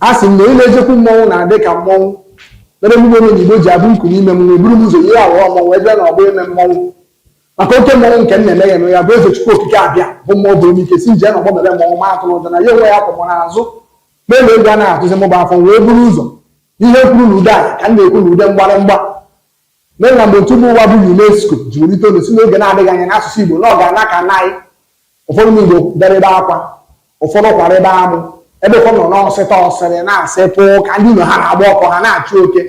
A sị m na onye na-ejekwu mmọnwụ na-adị ka mmọnwụ mere mụ omenigbo ji abụ nku n'ime mmọnwụ eburu m ụzọ yie aghọọ mmọnwụ ebe na ọgbọ ime mmọnwụ maka oke mmọnwụ nke m na-eme ya eme ya bụ eze chukwu okike abịama bụ mmụọ bụ onye ike si m jee na ọgbọ mere mmọnwụ ma atụna ụjọ na ya onwe ya kwụ mụ n'azụ melu egwu a na-atụzi mụ bụ afọ wee buru ụzọ ihe kwuru na ude anyị ka m na-ekwu na ude mgbarịmgba Mana mgbe otu mba ụwa bụ UNESCO ji welite olu sị n'oge na-adịghị anya na asụsụ Igbo na ọ ga-ana ka naị, ụfọdụ ụmụ Igbo bịara ebe akwa, ụfọdụ kwara ebe amụ, ebe ụfọdụ nọ na-asịta asịrị na-asịpụ ka ndị ụnọ ha na-agba ọkụ ha na-achụ oke.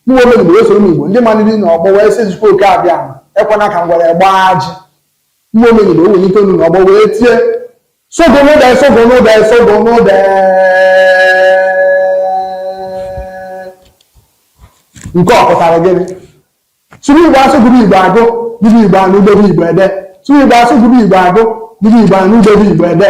Mụwa Omenigbo wee soro ụmụ Igbo ndị maliri n'ọgbọ wee sị Chukwu Okike Abịama ekwana ka ngwere gbaa ajị. Mụ Omenigbo welite olu na ọgbọ wee tie sụgụnụde sụgụnụde sụgụnụde nke ọ pụtara gịnị sụrụ igbo asụ gụrụ igbo agụ nụrụ igbo anụ dere igbo ede sụrụ igbo asụ gụrụ igbo agụ nụrụ igbo anụ dere igbo ede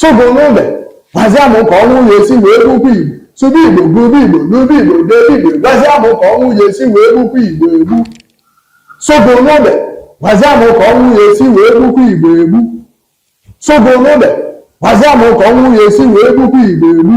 Sụgụnụde, gwazie mụ ka ọnwụ ya-esi wee gbukwa Igbo. Sụba Igbo, gụba Igbo, nụba Igbo, debe Igbo, gwazie mụ ka ọnwụ ya-esi wee gbukwa Igbo egbu. Sụgụnụde, gwazie mụ ka ọnwụ ya-esi wee gbukwa Igbo egbu. Sụgụnụde, gwazie mụ ka ọnwụ ya-esi wee gbukwa Igbo egbu.